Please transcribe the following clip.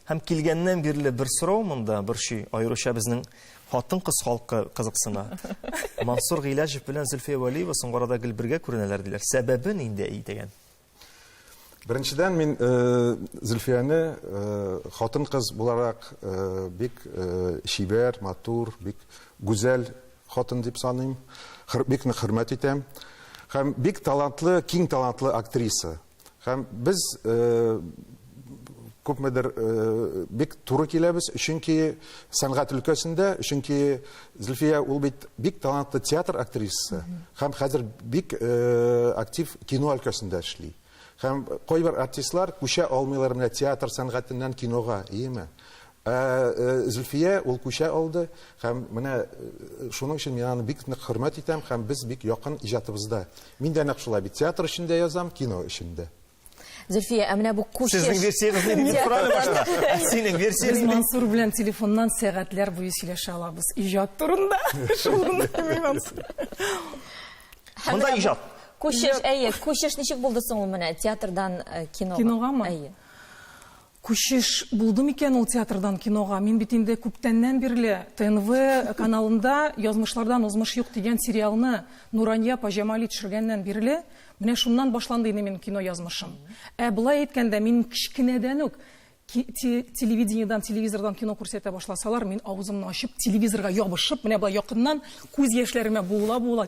Һәм килгәннән бирле бер сорау монда борчый, аеруча безнең хатын-кыз халкы кызыксына. Мансур Гыйләҗев белән Зөлфия Вәлиева соңгы арада гел бергә күренәләр диләр. Сәбәбе нинди әй дигән? Беренчедән мин э, Зөлфияне э, хатын-кыз буларак э, бик чибәр, матур, бик гүзәл хатын дип саныйм. Бик нык хөрмәт итәм. Һәм бик талантлы, киң талантлы актриса. Һәм без күпмедер бик туры киләбез, чөнки сәнгать өлкәсендә, чөнки Зөлфия ул бит бик талантлы театр актрисасы һәм хәзер бик актив кино өлкәсендә эшли. Һәм кайбер артистлар күчә алмыйлар менә театр сәнгатеннән кинога, иеме? Ә Зөлфия ул күчә алды һәм менә шуның өчен мин аны бик нык хөрмәт итәм һәм без бик якын иҗатыбызда. Мин дә нәкъ шулай бит, театр өчен дә язам, кино өчен дә. Зөлфия, ә менә бу күчеш. Сезнең версиягез нинди дип сорады башта. Синең версияң нинди? Без Мансур белән телефоннан сәгатьләр буе сөйләшә алабыз иҗат турында. Монда иҗат. Күчеш, әйе, күчеш ничек булды соң ул менә театрдан кинога? Киногамы? Әйе. Күчеш булды микән ул театрдан кинога? Мин бит инде күптәннән бирле ТНВ каналында Язмышлардан узмыш юк дигән сериалны Нурания апа Җамали төшергәннән бирле, менә шуннан башланды инде минем кино язмышым. Ә болай әйткәндә, мин кечкенәдән үк телевидениедән, телевизордан кино күрсәтә башласалар, мин авызымны ачып, телевизорга ябышып, менә болай якыннан күз яшьләремә буыла-буыла